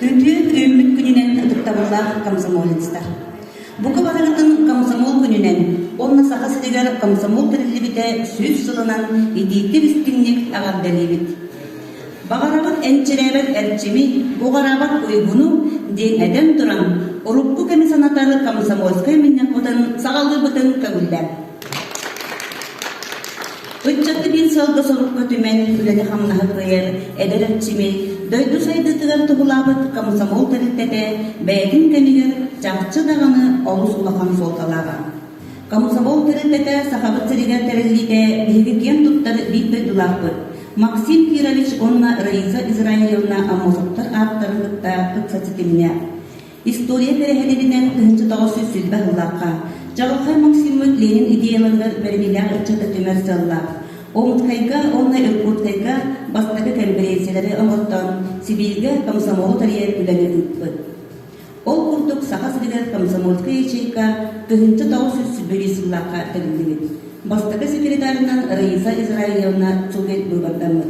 Үндүөм үүммүт күнүнэн ытыктабыллаах комсомолецтар! Бука барыгытын комсомол күнүнэн уонна Саха сиригэр комсомол тэриллибитэ сүүс сылынан итиитик истиҥник эҕэрдэлиибит! Баҕарабыт энчирээбэт эрчими, уҕараабат уйгуну, диэн этэн туран, урукку кэми санатар комсомольскай мунньахпытын саҕалыыбытын көҥүллээн. Ыччаты биир сыалга сорукка түмэн, үлэни-хамнаһы кыайар эдэр эрчими дойду сайдыытыгар туһулаабыт комсомол тэрилтэтэ бэйэтин кэмигэр чахчы даҕаны олус улахан суолталааҕа. Комсомол тэрилтэтэ Сахабыт сиригэр тэриллиитэ биһиги киэн туттар биир дойдулаахпыт Максим Кирович уонна Раиса Израилевна Аммосовтар ааттарын кытта ыкса ситимнээх. История тэрээһининэн кыһынчытаҕа сүлсүлбэх ыллахха, Чаҕылхай Максиммыт Ленин идеяларыгар бэриниилээх ыччаты түмэр сыаллаах. Омутскайга уонна Иркутскайга бастакы кэмпириэнсийэлэри оҥоттон, Сибииргэ комсомолу тэрийэр үлэни ыыппыт. Ол курдук Саха сиригэр комсомольскай ячейка кыһынчы тоҕус сүүс сүүрбэ сыллаахха тэриллибит. Бастакы секретарынан Раиса Израилевна Цугель быыбардаммыт.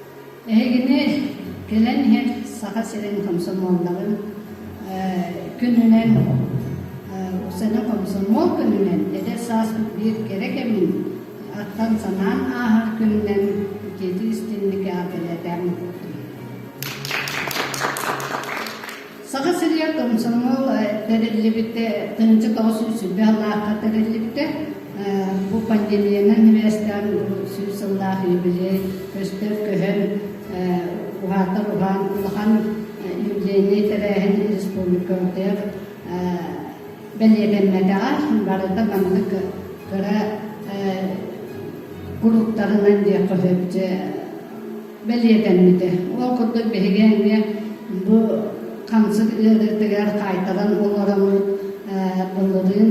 Эһигини кэлэн иһэр Саха сирин комсомолларын күнүнэн, саҥа комсомол күнүнэн, эдэр сааспыт биир кэрэ кэмин аттан-санаан ааһар күнүнэн итиитик-истиҥник эҕэрдэлэтэм. Саха сиригэр комсомол тэриллибитэ, тыһыынча тоҕус сүүс сыллаахха тэриллибитэ. Бу пандемиянан небээстээн сүүс сыллаах юбилей көстөн-көһөн, уһаатар уһаан улахан юбилейнай тэрээһин республика утыйах бэлиэтэммэтэҕэ. Барыта маннык кыра куруктарынан диэххэ сөп бэлиэтэммитэ. Ол курдук биһиги эмиэ бу хамсык ыарыытыгар хаайтаран олороммут былырыын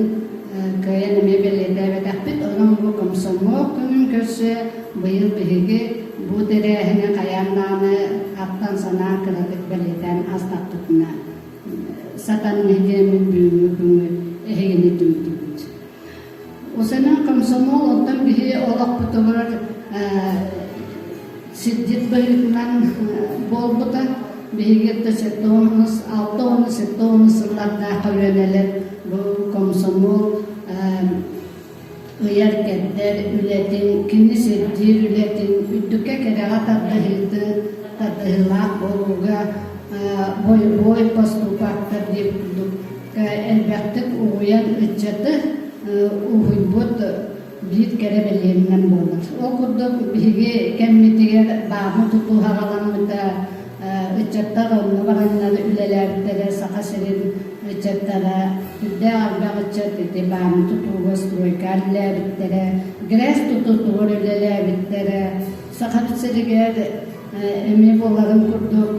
кыайан эмиэ бэлиэтээбэтэхпит. Онон бу комсомол күнүн көрсө быйыл биһиги бу тэрээһини хайааннааны аттан санаан кыратык бэлиэтээн астаппытына сатан нэһилиэммит бүгүҥҥү күҥҥү эһигини дүүрдүбүт. Бу сэнэ комсомол оттон биһи олохпутугар сирдьит быһыытынан буолбута биһиги ытта сэттэ уонус алта уонус сэттэ уонус сыллардаах көлүөнэлэр бу комсомол ыйар кэрдэр үлэтин кини сирдиир үлэтин үрдүккэ кэрэҕэ тардыһыыты тардыһыылаах буолууга бой поступактар диир курдук элбэхтик угуйан ыччаты уһуйбут биир кэрэ билиэнинэн буолар. Ол курдук биһиги кэммитигэр баабы тутуһаҕаламмыта ыччаттар онно бараннар үлэлээбиттэрэ Саха сирин ыччаттара, үрдээх ардах ыччат ити бааны тутууга стройка үлэлээбиттэрэ, грэс тутуутугар үлэлээбиттэрэ. Саха сиригэр эми буларын курдук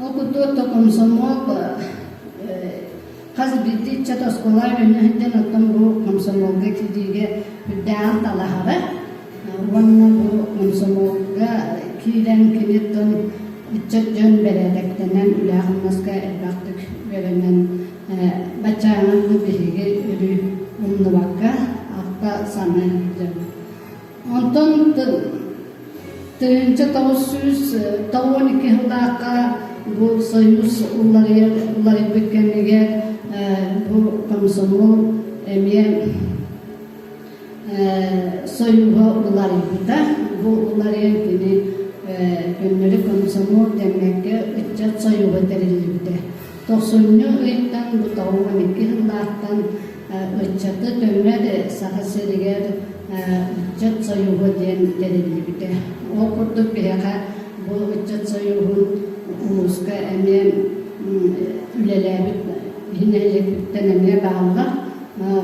Ол курдук то комсомол хас бирди ыччат оскуола үөннэһиттэн оттон бу комсомолга киириигэ үрдээҕин талаһара уонна бу комсомолга киирэн киниттэн ыччат дьон бэрээдэктэнэн үлэ-хамнаска элбэхтик үөрэнэн баччааҥҥы биһиги өрүү умнубакка ахта саныы сылдьабыт Онтон тыл тыһыынча тоҕус сүүс тоҕуон икки сыллаахха бу Союз уларыйар уларыйбыт кэмигэр бу комсомол эмиэ Союза уларыйбыта. Бу уларыйан кини көннөрү комсомол дэммэккэ ыччат союза тэриллибитэ. Тохсунньу ыйтан бу тоҕуон икки сыллаахтан Ыччаты дьоммор Саха сиригэр Ыччат союһа диэн тэриллибитэ. Ол курдук биһиэхэ бу Ыччат союһун улууска эмиэ үлэлээбит иһин нэһилиэкпиттэн эмиэ бааллар.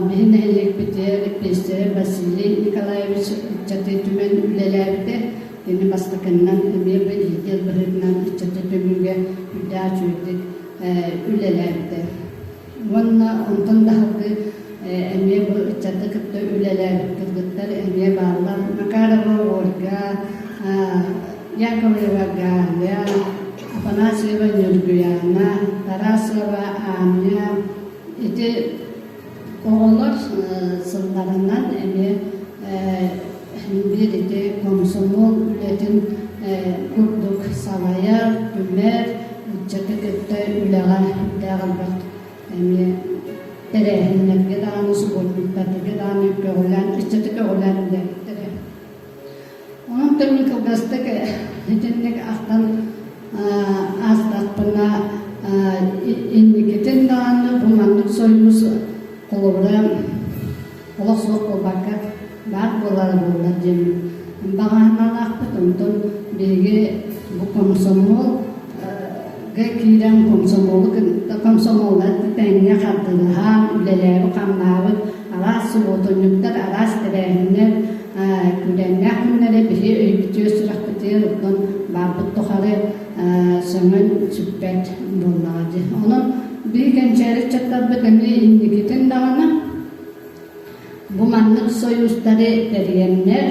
Биһи нэһилиэкпитигэр эппиэстэрэ Василий Николаевич ыччаты түмэн үлэлээбитэ. Ини бастакыннан эмиэ бэлиитиэл быһыытынан ыччаты түмүүгэ үрдээх үчүгэйдик үлэлээбитэ. Уонна онтон таһыргы эмиэ бу ыччаты кытта үлэлээбиппит эмиэ бааллар. Макарова Ольга, Яковлева Галя, Афанасьева Ньургуяна, Тарасова Аня. Ити оҕолор сылларынан эмиэ үйэтитэ комсомол үлэтин курдук салайа түмэр ыччаты кытта үлэҕэ үрдээх элбэх эмиэ тэрээһиннэргэ даҕаны субботниктарга даҕаны көҕүлээн ыччаты көҕүлээн үлэһиттэрэ онон көрүн кылгастык итинник ахтан аастахпына инникитин даҕаны бу маннык союз холобура олох суох буолбакка, баар буолара буоллар диэн баҕаһыналаахпыт. Онтон биһиги бу комсомол киирэн комсомолу комсомола тэҥҥэ хардыылаһан үлэлээбит-хамнаабыт араас субуотунньуктар, араас тэрээһиннэр күүрэннээх күннэрэ биһи өйбүтүө сүрэхпитигэр оттон баарбыт тухары сөҥөн сүппэт буоллаҕа дии. Онон биһи кэнчээри ыччаттарбыт эмиэ инникитин даҕаны Бу маннык сойуустары тэрийэннэр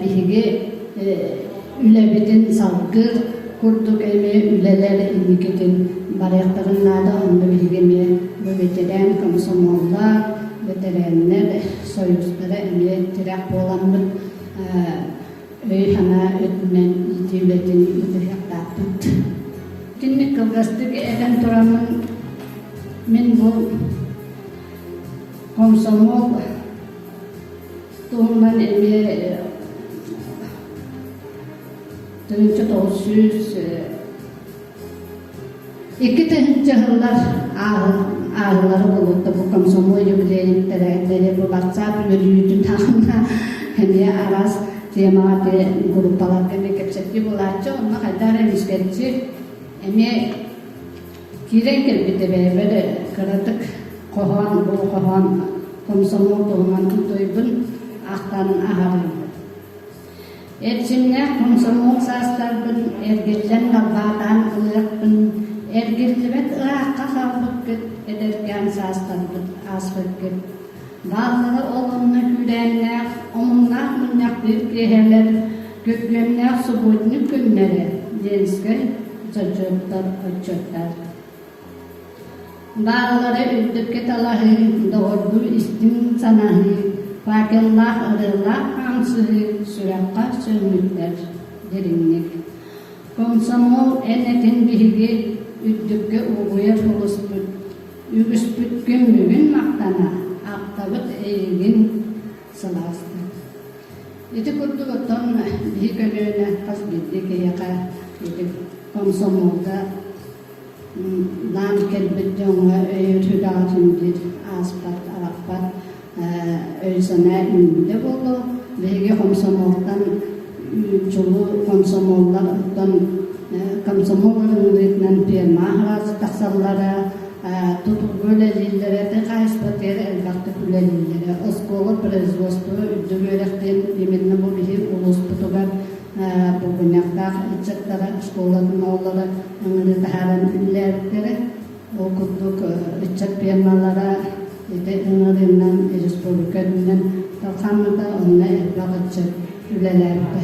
биһиги үлэбитин салгыы курдук эмиэ үлэлэр инникитин барыахтарын наада. Онно биһиги эмиэ бу бэтэрээн комсомоллар, бэтэрээннэр сойуустара эмиэ тирэх буоламмыт өй-санаа өттүнэн иитии үлэтин ыытыһыахтаахпыт. Итинник кылгастык этэн тураммын мин бу Комсомол туһунан эмиэ тыһыынча тоҕус сүүс икки тыһыынча сыллар ааһыллары болотто бу комсомол юбилейниктэрээтэри бу ватсап үөрүүтү таанна эмиэ араас темаҕа те группаларга эмиэ кэпсэтии булааччы онно хайдаар эмискэрчи эмиэ Киирэн кэлбитэ бэйэбэр кыратык хоһоон, бу хоһоон комсомол туһунан утуйбун аахтаран аһарыыбын. Эрчимнээх комсомол саастарбын эргиччэн далбаатаан ылыахпын, эргиллибэт ыраахха хаалбыккыт, эдэркээн саастарбыт ааспыккыт. Бааллара ол онно күүрээннээх, омуннаах мунньахтыыр киэһэлэр, күргүөмнээх субботник күннэрэ, Ленскэй отчуттар. Баарылара үрдүккэ талаһыы, доҕордуу истиҥ санаһыы, факеллаах ырыалаах хаамсыһыы сүрэххэ сөҥмүттэр дириҥник. Комсомол эн этин биһиги үрдүккэ угуйар олуспут Үгүспүт күҥҥүгүн махтана, аптабыт эйигин сылааста. Ити курдук оттон биһи көлүөнэ хас биирдии киһиэхэ ити комсомолга наан кэлбит дьоҥҥо өйөтү даҕатын диир ааспат-арахпат өйүсэнэ үүндэ буолуо. Биһиги комсомолтан чулуу комсомоллартан комсомол ыҥырыытынан пермах тахсаллара, тутулга үлэлииллэрэ, те хаһыспатыгар элбэхтик үлэлииллэрэ. Оскуола производство үрдүк үөрэхтин именно бу биһи улууспутугар букуньактаах ыччаттара школатын ооллара ыҥырыы таһааран үллээбиттэрэ. Ол курдук, ыччат пиармалара ити ыҥырыынан республика үрдүнэн талхаммыта, онно элбэх ыччат үлэлээбитэ.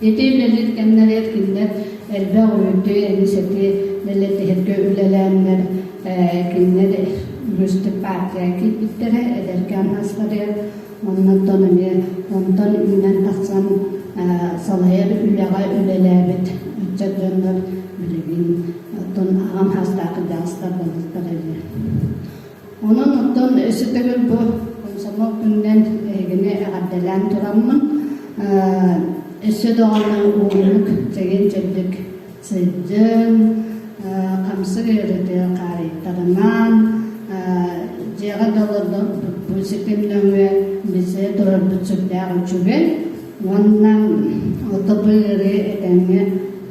Ити үлэлиир кэмнэригэр кинилэр элбэх үүтү, эбисэти дэлэтиһэргэ үлэлээннэр, кинилэр үгүстүк партия киирбиттэрэ, эдэркээн асхарыйар Онон оттон эмиэ онтон үүнэн тахсан салайар үлэҕэ үлэлээбит ыччат дьоннор билигин оттон аҕам саастаах кырдьаҕастар балыктар үһү. Онон оттон өссө төгүл бу комсомол күнүнэн эһигини эҕэрдэлээн тураммын өссө даҕаны уунук, чэгин-чэбдик сылдьан хамсык үйэлэтэ хаарыйтаҕынан дьиэҕэ да олорбуппут ситим нөҥүө билсэ турарбыт сүрдээх үчүгэй уонна отопы ыарыы этэҥҥэ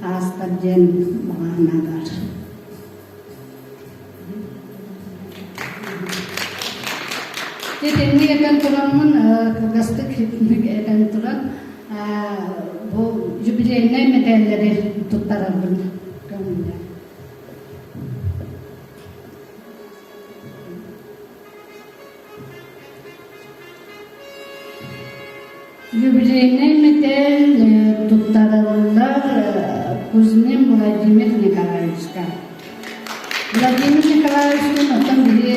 ааспат диэн баҕа санаабар Итинник этэн тураммын кылгастык этэн туран бу юбилейнай мэтээллэри туттарарбын көҥүллэ. Юбилейнай мэтээл туттарыллар кузьмин Владимир Николаевичка. Владимир Николаевичтыын оттон били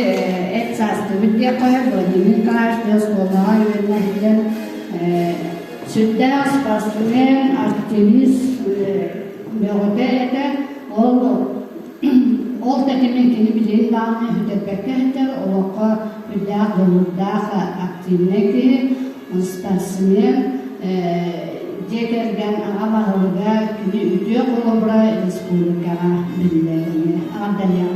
эт саастыбыт диэх қоя Владимир Николаевич тыас суолаҕа үөрнэһилэр сүрдээх спортсмен, активист бөҕөтө этэ ол Ол тэтими кини билиэн даҕаны өһүтэрбэккэ иһитэр, олоххо үрдээх дьулуурдаах активнай киһи, спортсмен, дьиэ кэргэн аҕа баһылыга, кини үтүө холобура республикаҕа биллэринэ аҕардайыам.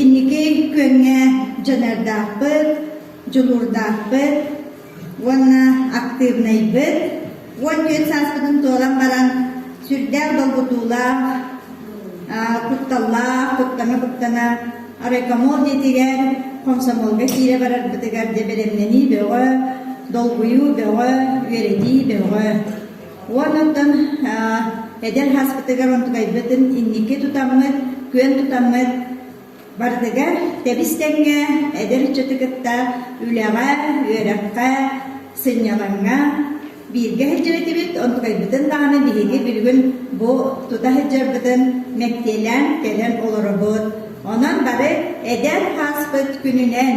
Инники күөҥҥэ дьаныардаахпыт, дьулуурдаахпыт уонна актыыбынайбыт уон түөрт сааспытын туолан баран сүрдээх долгутуулаах, кутталлаах, куттана-куттана райкомол дьиэтигэр, хомсомуолга киирэ барарбытыгар дьэ бэлэмнэнии бөҕө, долгуйуу бөҕө, үөрэтии бөҕө. Уон оттон эдэр һааспытыгар онтукайбытын инники тутаммыт, күөн тутаммыт барытыгар тэбис-тэҥҥэ эдэр ыччаты кытта үлэҕэ, үөрэххэ, сынньалаҥҥа бииргэ сылдьар этибит, онтукайбытын даҕаны биһиги бүгүн бу тута сылдьарбытын мэктиэлээн кэлэн олоробут. Онон бары эдэр һааспыт күнүнэн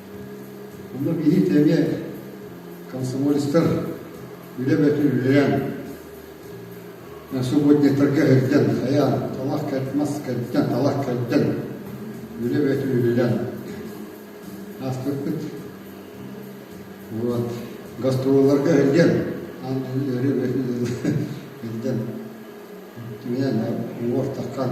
Онно биһиги эмиэ комсомолецтар үлэ бөтүн үлэлээн, свободнецтарга эрдэн, хайаан, талах мас кэрдэн, талах кэрдэн, үлэ бөтүн үлэлээн ааспыппыт. Вот. Гастроволларга эрдэн, аан дойду өрүү бөтүн эрдэн, миэнэ, уор таххан,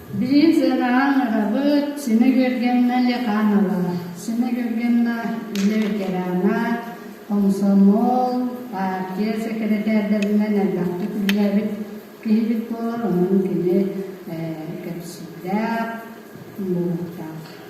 Билигин сыанаҕа ыҥырабыт, Симэ Күөлгэнна Лиханова, Симэ Күөлгэнна үлэ ветерана, хомсомуол, партия сэкирэтээрдэринэн элбэхтик үлэлээбит киһибит буолар, онон кини кэпсиирдээх, буолуохтаах.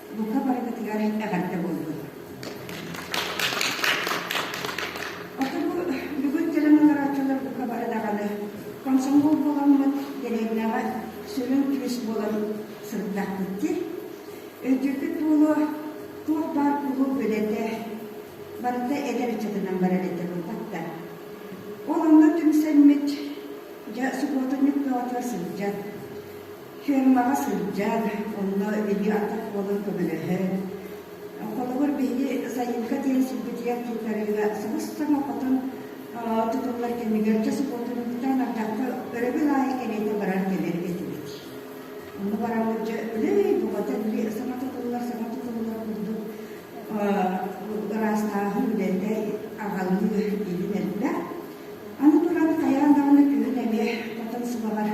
Бука барытытыгар эҕэрдэ буоллун! Оттон бу бүгүн дьадаҥы утарааччылар бука бары даҕаны комсомол буоламмыт, дэлиэннэҕэ сүрүн күүс буолан сырыттахпыт Өйдүүрбүт буолуо, туох баар кулууп үлэтэ барыта эдэр ыччатынан барар этэ буолбат да. Ол онно түмсэммит, дьэ субуотунньук бөҕөтө сылдьан, Фермаҕа сылдьан, онно биһиги атах уолун көмөлөһөн, холобур, биһиги сайыҥка диэри сирбитигэр тутарыыга сыбыс-томо хотун тутуллар кэмигэр дьэ субуотунньуктан ардахха өрөбүл аайы кэриэтэ баран кэлэр этибит. Ону бараммыт дьэ үлэй бөҕөтө били саҥа тутуллар саҥа тутуллар курдук ыраастааһын үлэтэ аҕалыы илин элбэх. Аны туран хайаан даҕаны күһүн эмиэ хотон сылаҕар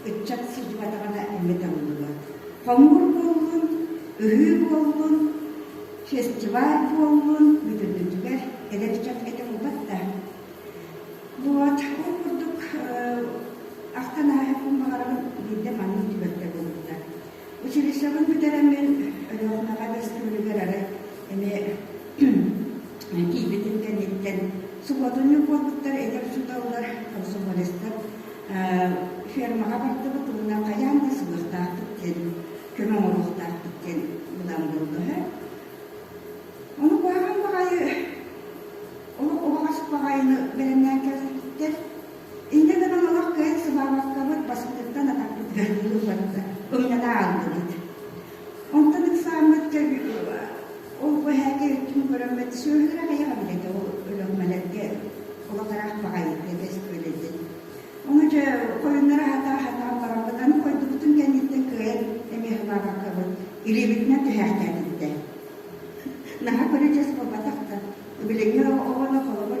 ыччат сыдьбатаҕына эмэ табыллыбат. Хомуур буоллун, ыһыы буоллун, фестиваль буоллун, бүтүрдүтүлэр, эдэр дьон этэ булбат да. Вот, ол курдук ахтан ааһыппын баҕарабын биирдэ маннык түбэлтэ буолбута. Училищеҕа бүтэрэн мин Өлөкүнэҕэ бэстибээлигэр эрэ эмиэ тиийбитим кэнниттэн субуотунньук буолбуттар этэр учууталлар, комсомолецтар фермаҕа бардыбыт уонна хайаан да сылыахтаахпыт диэн көмө оҥоруохтаахпыт диэн ылан буоллаһа. Ону баҕаһын баҕайы, ол убаҕас баҕайыны бэлэмнээн кэлбиттэр. Инньэ гынан олох кыһын сыбаалаккабыт баспытыттан атахпытыгар ньылы барда, ымнана ааллыбыт. Онтон ыксааммыт кэбиһиэҕэ. Ол бу эһээкэ өттүн көрөммөт сүөһүлэр аҕыйаҕа билэтэ ол өлөҕмэлэргэ олох ыраах баҕайытык эспиэлэйбит. Ону дьэ хойуннара аһата-аһатан бараммыт аны хойдубутун кэнниттэн кыайан эмиэхэ баабаккабыт илиибитинэн түһээхтээтибитэ. Наһаа көрө дьас буолбатах да, билиҥҥи оҕолор холобур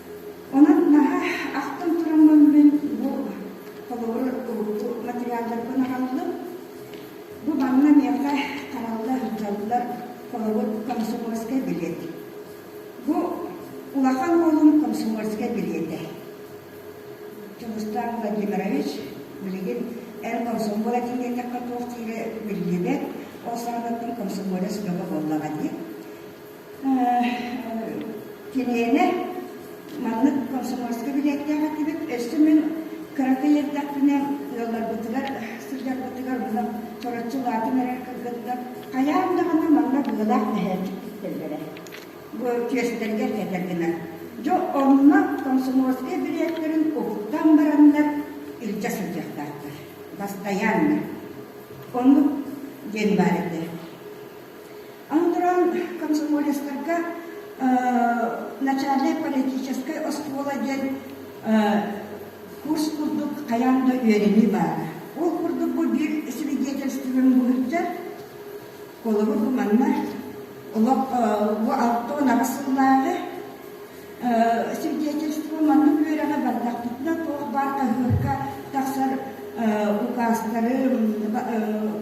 Онон наһаа ахтан тураммын мин бу холобур урукку материалдарбын араллым. Бу манна миэхэ харалла сылдьаллар холобур комсомольскай билиэт. Бу улахан уолум комсомольскай билиэтэ. Дьулустаан Владимирович билигин эр комсомол отделениехха туох диирэ биллибэт, ол саҕанаттан комсомолец бөҕө буоллаҕа дии. Килиэнэ маннык комсомольскай билиэттээх этибит. Өссө мин кырата иэрдэхпинэ ыалларбытыгар, сылдьарбытыгар муна тороччу улаатан эрэр кыргыттар хайаан даҕаны манна быалаах мэһээтик ииттэллэрэ. Бу түөстэргэр кэтэр гына. Дьэ онно комсомольскай билиэттэрин уһуктан бараннар илдьэ сылдьыахтаахтар. Бастайааннар. Оннук диэн баар этэ. Аны туран, комсомолецтарга начальнай политическай оскуола диэн курс курдук хайаан да үөрэнии баара. Ол курдук бу биир свидетельствын булучча холобур манна олох бу алта унаҕа сыллааҕы Свидетельство маннык үөрэҕэ бардахпытына туох баар хаһыакка тахсар укаастары,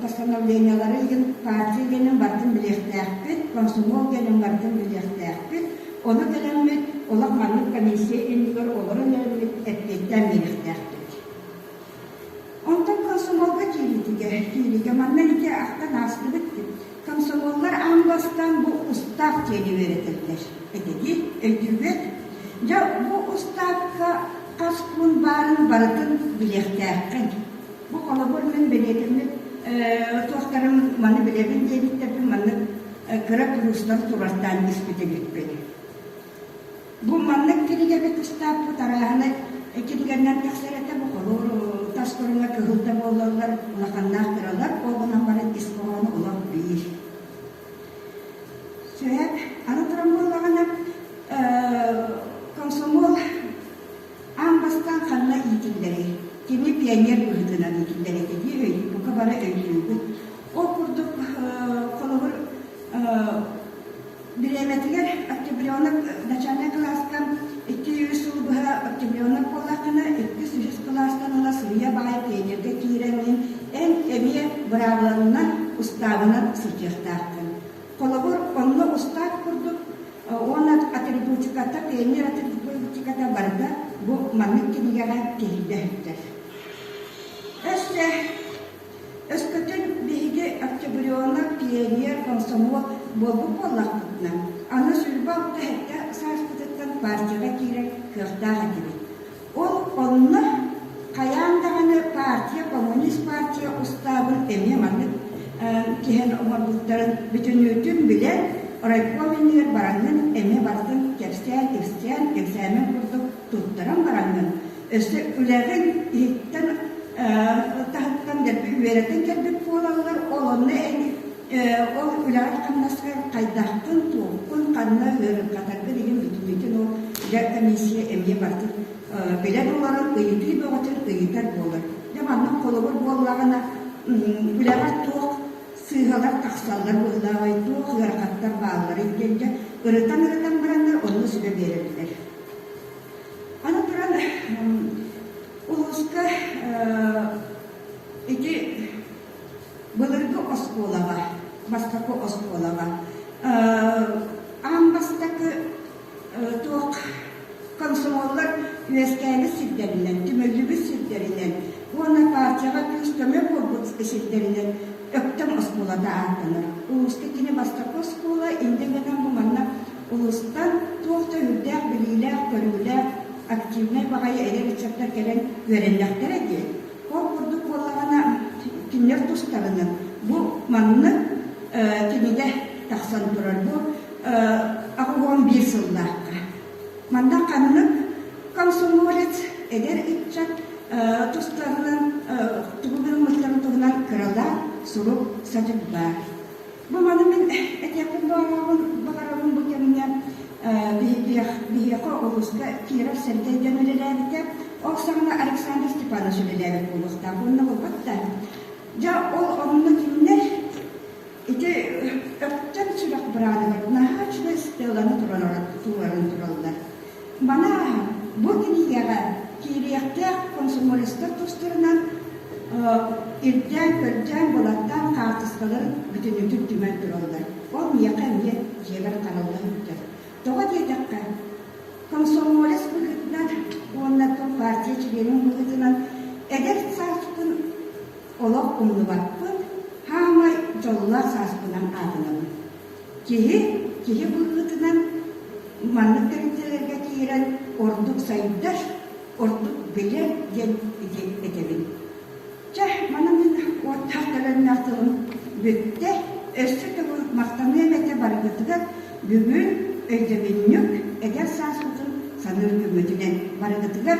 постановлениелары иһин партия генин бардын билиэхтээхпит, комсомол генин бардын билиэхтээхпит. Ону кэлэммит олох маннык комиссия иннигэр олорон эрэммит эппиэттээн биэриэхтээхпит. Онтон комсомолга киириитигэр, киириигэ манна ити ахтан аастыбыт комсомоллар аан бастаан бу устаап диэни үөрэтэллэр. Этэги өйдүүбүт. Дьэ, бу устаапка хас күн баарын барытын билиэхтээххин. Бу холобур мин бэлиэтэммит туохтарым маны билэбин диэбиттэрбин маннык кыра куруустан турартаан испит эбиппин. Бу маннык кинигэбит ыстааппыт арааһынай эккитигэринэн тахсар этэ бу холуур тас көрүҥэ кыһыл да буоллаллар улаханнаах кыралар ол гынан баран ис хоһоону олох биир. Сөп, аны туран буоллаҕына комсомол аан бастан ханна иитиллэрий? Кини пионер быһыытынан иитиллэр этэ дии өйдүү бука бары өйдүүбүт. Ол курдук холобур Бириэмэтигэр октябренок начальнай кылаастан икки үс сыл быһа октябренок буоллаххына, иккис-үһүс кылаастан ыла суруйа баай тренергэ киирэн мин эн эмиэ быраабылаҥынан, устаабынан сылдьыахтааххын. Холобур, онно устаат курдук уонна атрибутиката, тренер атрибутиката барыта бу маннык кинигэҕэ киһиргэһиттэр. Өссө Өскөтүн биһиги октябрена, пионер, комсомол буолбут буоллахпытына, аны Сульбах түһэртэ сааспытыттан партияҕа киирэр кыахтаах этибит. Ол онно хайаан даҕаны партия, коммунист партия устаабын эмиэ маннык түһэн оҥорбуттарын бүтүннүүтүн билэн, райком иннигэр бараҥҥын эмиэ барытын кэпсээн, иксээн, экзамен курдук туттаран бараҥҥын, өссө үлэҕин иһиттэн таһыттан дэлби үөрэтэн кэлбит буолаллар, ол онно ол үлэҕин-хамнаскар хайдахпын, туохпун, ханна ыарырҕатаргын иһин бүтүнүтүн ол дьэ комиссия эмиэ барытын билэн олорор, ыйытыы бөҕөтүн ыйытар буолар. Дьэ маннык холобур буоллаҕына үлэҕэ туох сыыһалар тахсаллар быһылаабай, туох ыарахаттар баалларый диэн дьэ ырытан-ырытан бараннар онно сүбэ биэрэллэр. Аны туран улууска ити былыргы оскуолаҕа, бастакы оскуолаҕа аан бастакы туох комсомоллар үөскээбит сирдэринэн, түмүллүбүт сирдэринэн уонна партияҕа күүс-көмө буолбут сирдэринэн Өктөм оскуолата ааттанар. Улууска кини бастакы оскуола, инде гынан бу манна Улуустан туох да үрдээх билиилээх-көрүүлээх, активнай баҕайы эдэр ыччаттар кэлэн үөрэннэхтэрэ дии. Ол курдук буоллаҕына, кинилэр тустарынан бу маннык кинигэ тахсан турар. Бу аҕа уон биир сыллаахха. Манна ханнык комсомолец, эдэр ыччат тустарынан тугу гыммыттарын туһунан кыралаан сурук-садьык баар. Бу маны мин этиэхпин баҕарабын баҕарабын бу кэмҥэ биһиэхэ улууска Киров Сэргэй диэн үлэлээбитэ. Ол саҕана Александр Степанович үлэлээбит буолуохтаах уонна булбат да. Дьэ ол онно кинилэр ити өктөн сүрэх быраадыгар наһаа үчүгэй стеланы тураллар. Маны бу кинигэҕэ киириэхтээх комсомолецтар тустарынан ирдээн-көрдөөн, былаттаан хаартыскаларын бүтүннүүтүн түмэн тураллар. Ол миэхэ эмиэ дьиэбэр харалла сылдьар. Тоҕо диэтэххэ, комсомолец быһыытынан уонна тыл партия чилиэнин быһыытынан эдэр сааспын олох умнубаппын, хаамай дьоллоох сааспынан аатынабын. Киһи киһи быһыытынан маннык тэрилтэлэргэ киирэн ордук сайдар, ордук билэр диэн этэбин. Чэ, манан мин уоттаах төлөннөөх тылым бүттэ. Өссө төгүл махтаныам этэ барыгытыгар бүгүн өйдөбүнньүк, эдэр саас утун саныыр күммүтүнэн барыгытыгар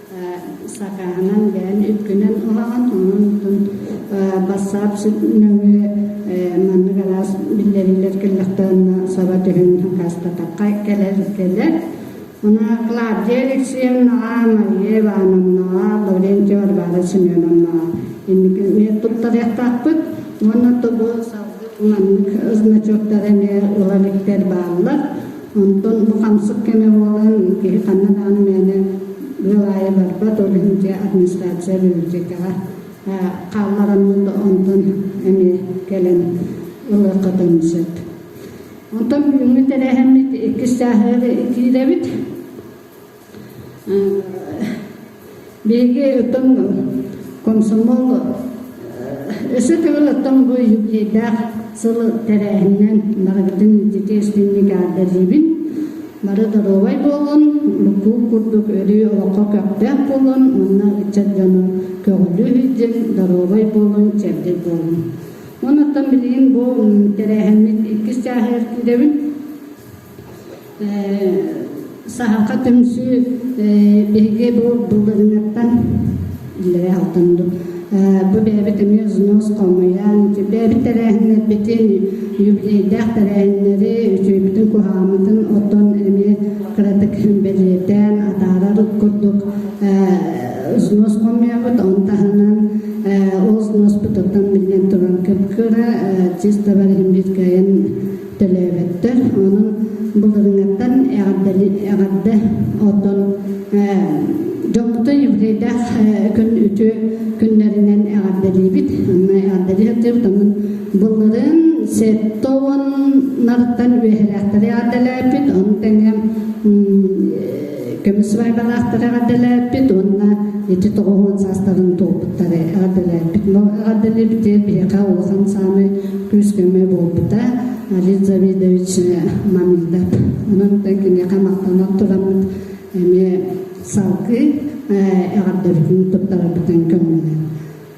сакааһынан бэйэн үпкүнэн ылаҕын онон бассаап нөҥүө маннык араас биллэриллэр кэллэхтэринэ саба түһүн хаастатахха кэлэр кэлэр Мына Клавдия Алексеевнаҕа, Мария Ивановнаҕа, Лаврентий Варвара Семеновнаҕа инники мен туттарыахтаахпыт уонна тобу салгыы маннык значоктар эмиэ ыла иликтэр бааллар Онтон бу хамсык кэмэ буолан, киһи ханна даҕаны мээнэ ыал аайы барбат, ол иһин дьэ администрация бюджетаҕа хааллараммыт, онтон эмиэ кэлэн ылыаххытын сөп. Онтон бүгүҥҥү тэрээһиммит иккис чааһыгар киирэбит. Биһиги оттон комсомол өсө төгүл оттон бу юбилейдаах сыл тэрээһининэн барыбытын дитиэстинник аардадыыбын бары доруобай буолун букуул курдук өрүү олоххо көхтөөх буолун уонна ыччат дьону көҕүлүү иһдин доруобай буолун чэбдик буолун онуттан билигин бу тэрээһиммит иккис чааһы эртидэбин Саһарга түмсүү биһиги бу былырынаттан иллэри алтынбыт. Бу бэйэбит эмиэ взнос холмуйан, бэйэбит тэрээһиннэрбитин, юбилейдээх тэрээһиннэри, үтүөбүтүн куһаамытын оттон эмиэ кыратык бэлиэтээн, атаарар курдук взнос хомуйабыт, он таһынан ол взноспут оттон биллэн туран кып-кыра, чисто бары иһин биир кыайан төлөөбөттөр. Онон былырыҥаттан эҕэрдэ оттон дьокутай юбилейдаах күн үтүө күннэринэн эҕэрдэлиибит. Эҕэрдэлии сатыыбытын былырын сетто нартан үөһэлээхтэри эҕэрдэлээпит. Ону тэҥэ көмүсүбайбалаахтары эҕэрдэлээппит уонна ити тоҕоһун саастарын туоппуттары эҕэрдэлээппит эҕэрдэлиибит биһиэхэ улахан сааны күүс-көмө буолбута Алис Завидович маныйдат онон киниэхэ махтанар тураммыт эмиэ салгыы эҕэрдэбитин туттарарбытын көҥүллэн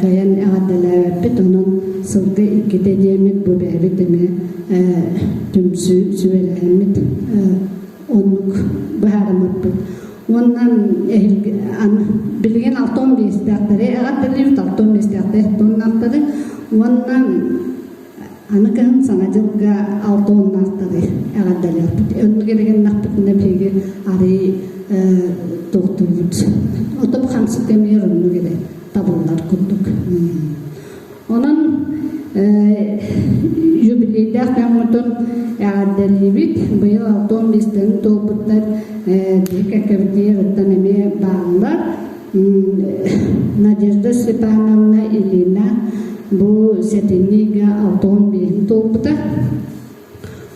кыайан эҕэрдэлээбэппит онон сылга иккитэ диэммит бу бэйэбит эмиэ түмсүү сүбэлээммит оннук быһаарыммыппыт уонна билигин алты он биэстээхтэри эҕэрдэлиибит алты он биэстээхтэри алты оннаахтары уонна Аны кыһын Саҥа дьылга алта уоннаахтары эҕэрдэлээхпит. Оннук эрэгэннэхпитинэ биһиги арыый тохтуубут. Отом хамсык эмиэр оннук эрэ табыллар курдук. Онон юбилейдаах дьоммутун эҕэрдэлиибит. Быйыл алта уон биэстэрин туолбуттар биһи кэккэбититтэн эмиэ бааллар. Надежда Степановна Ильина бу сэтинньигэ алта уон биирин туолбута.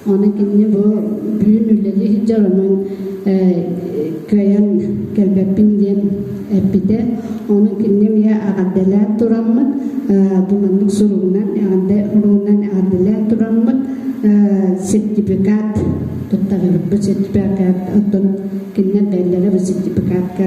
Ону кинини бу бүгүн үлэлии сылдьар онон кыайан кэлбэппин диэн эппитэ. Ону кинини эмиэ аҕардалаан тураммыт. Бу маннык суругунан аҕардалаан аҕардалаан тураммыт сертификат туттарыыбыт сертификат оттон кинилэр бэллэрэ бу сертификатка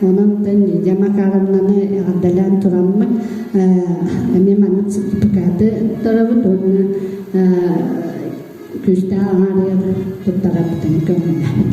Ононтон Лидия Макаровнаны эҕэрдэлээн тураммыт эмиэ маннык сертификаты торабыт уонна күүстээх аҥаарыйар туттарабытын көҥүллэбит.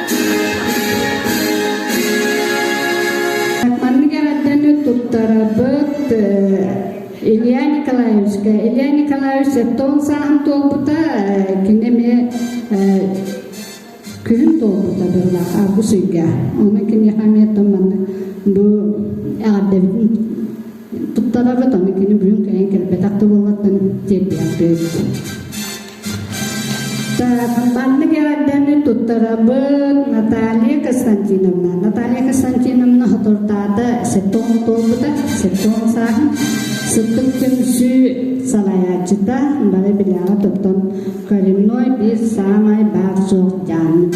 Маннык эҕэрдэни туттарабыт Илья Николаевичка. Илья Николаевич тоон сааһын туолбута кини эмиэ күһүн туолбута быһылаах аргыс ыйга. Ону киниэхэ эмиэтэ маннык бу эҕэрдэбитин туттарабыт, ону кини бүгүн кэлин кэлбэтэх да буоллаттан тиэрдиэх бэйбит. Маннык эҕэрдэни туттарабыт Наталья Константиновна. Наталья Константиновна хотуртаата сеппон туолбута, сеппон сааһын сыттык түмсүү салайааччыта, бары билэҕэ тоттон коренной биир саамай баар суох дьааммыт.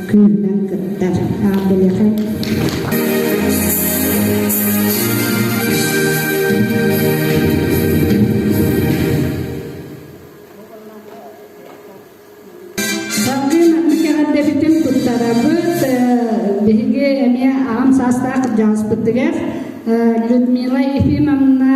Кыымнан кыттар. Аан билэҕин Салгын аттык эҕэрдэбитин туттарабыт. Биһиги эмиэ аҕам саастаах дьааспытыгар Людмила Ефимовна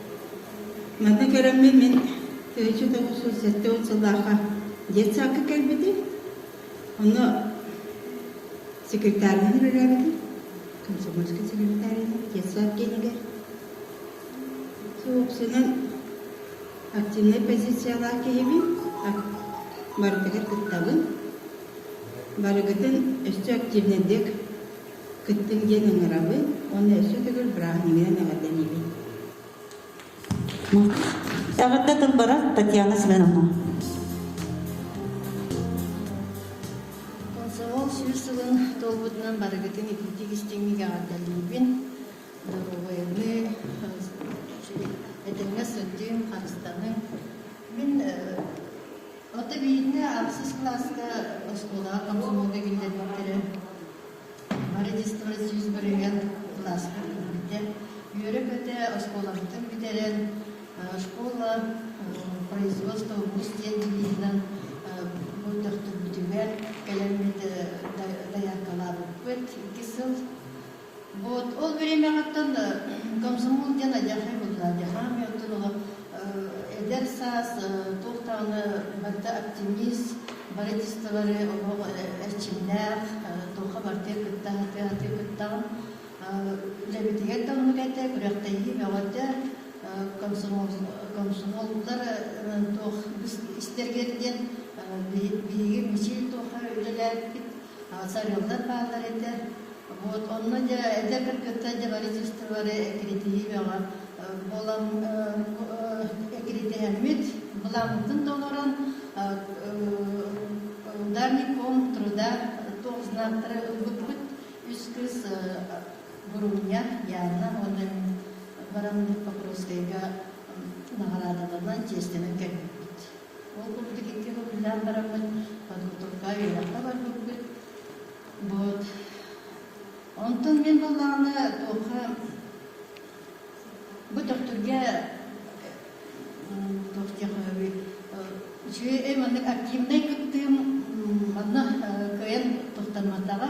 Манна кэрэммин мин тыһыынча тоҕус уон сэттэ уон сыллаахха детсадка кэлбитим. Онно секретарынан үлэлээбитим. Комсомольскай секретарынан детсад киинигэр. Собственно, активнай позициялаах киһибин. Барытыгар кыттабын. Барыгытын өссө активнайдык Кыттыҥ диэн ыҥырабыт уонна өссө төгүл бырааһынньыгынан эҕэрдэлиибит. Эҕэрдэ тылбара Татьяна Семеновна. Комсомол сүүс сылын туолбутунан барыгытын итинтик истиҥник эҕэрдэлиибин. Доруобайыныы, этэҥҥэ сылдьыҥ, харыстаныҥ. Мин Онто биирдэ ахсыс кылааска оскуолаҕа комсомолга киллэрбиттэрэ. Родительство сүүс бырыһыан кылааска киирбиттэ. Үөрэ-көтө оскуолабытын бүтэрэн, школа производство ВУЗ диэн дивизынан төхтүрбүтүгэр кэлэммит дайааккалаабыппыт. Икки сыл Вот, ол бэриэмэҕиттэн комсомол диэн адьархай буолла. Дьахаан омуйуоттан олох эдэр саас, туох даҕаны барыта оптимист, барытисталары олох эрчимнээх, туохха бартыйа кытта атыыһатыы кыттаҕын. Үлэбитигэр да оннук этэ, күрэхтэһии бөҕөтө. Комсомоллар туох истэргэр диэн биһиги мичил туоха үлэлээбиппит. сарыаллар бааллар этэ. Вот онно дьэ эдэрбэр кыттар дьэ правительстволары эккирэтиһиэҕэ буолан эккирэтиһэммит былааммытын толорон ударником труда туох знактары ылбыппыт үс кыыс Бурунья Яна уонна мин баран Покровскайга наҕараадаланан чиэстэнэн кэлбиппит Ол курдук икки былдьаан бараммыт продуктовка үөрэххэ барбыппыт. Вот. Онтон мин былааны туохха бу төхтүргэ туох диэхэби үчүгэй маннык активнай кыттыым манна кыайан тохтоммотаҕа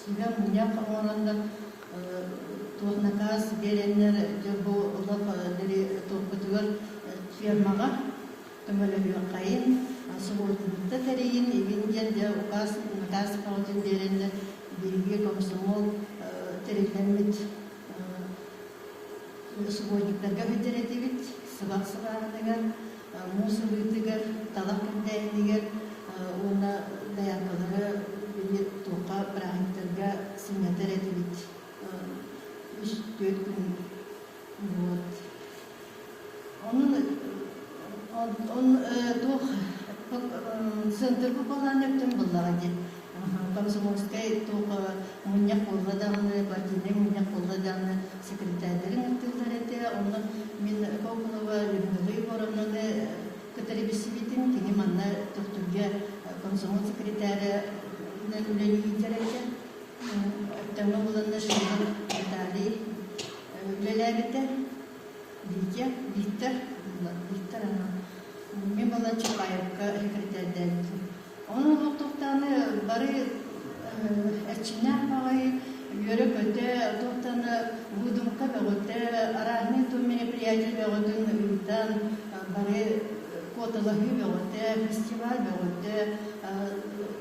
Сүбэ-мунньах оҥорон да туох накаас биэрэннэр бу олох дири тургутугар фермаҕа көмөлөһүөххэйин, субуотунньукта тэрийин, игин диэн дьэ укаас накаас бөҕөтүн биэрэннэр биһиги комсомол тэриллэммит субботниктарга сылдьар этибит сыбах сыбааһытыгар муус ылыытыгар талах кэнтээһинигэр уонна дояркалары били туохха бырааһынньыктарга сынньатар этибит үс-түөрт күн буолт Онон туох центрга балааны өттүн буллаҕа дии. Комсомольскай туох мунньах буолла даҕаны, партийнай мунньах буолла даҕаны секретарьдарын ыттыыллар этэ. Онно мин Кокулова Людмила Егоровнаны кытары билсибитим. Кини манна Төхтүргэ комсомол секретаря үлэлиир этэ. Өттөҥө буланна шведик Наталий үлэлээбитэ. Витя, Виктор Виктор ама эмиэ буолан Чапаевка секретэрдээбитим. Онон олохтохтооҕу бары эрчимнээх баҕайы үөрэ-көтө, туохтаны будумка бөҕөтө, арааһынай туом мероприятие бөҕөтүн ыытан бары куоталаһыы бөҕөтө, фестиваль бөҕөтө,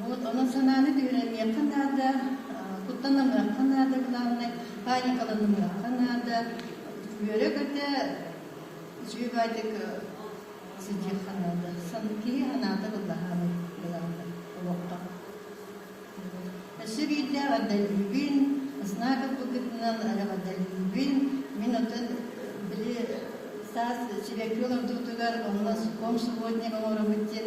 Вот, онон санааны түһэрэниэххэ наада, куттаныахха наада, главное паникаланыахха наада. Үөрэх этэ үчүгэйдик сылдьыахха наада. Киһи санаата былаһаан былаата олохто. Өссө биирдэ адаллюбин, знака быкытынан эрэ адаллюбин, мин отон били таас чибэкки олордуутугар онно сукком сегодня оҥоробут диэн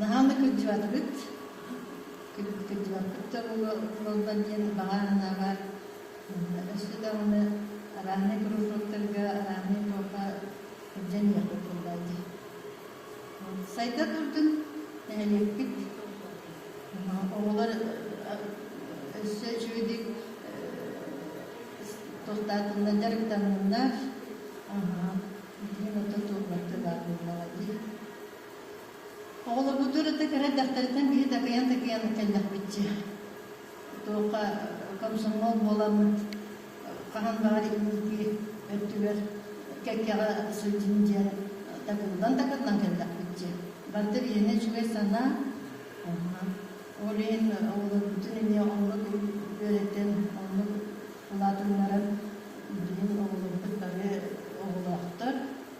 Наһаа да кырдьыбатыгыт. Кырдьыбаккыт да буоллар диэн баҕа санаабар өссө даҕаны араанай кружоктарга араанай туоха сылдьан иэхпит буолла дии. Сайда турдун нэһилиэкпит оҕолор өссө үчүгэйдик тохтаатыннар дьарыктанныннар диэн оттон туолбаттар баар буоллаҕа дии Оҕолорбутугар ытык кыра эрдэхтэриттэн киһи такыйан-такыйан кэллэхпитчэ. Туохха комсомол буоламмыт хаһан баҕар инники өттүгэр кэккэҕэ сылдьын диэн такыллан-такыллан кэллэхпитчэ. Барыта биһиэнэ үчүгэй санаа. Онно ол иһин оҕолорбутун эмиэ оннук үөрэтэн, оннук улаатыннаран билигин оҕолорбут бары оҕолоохтор.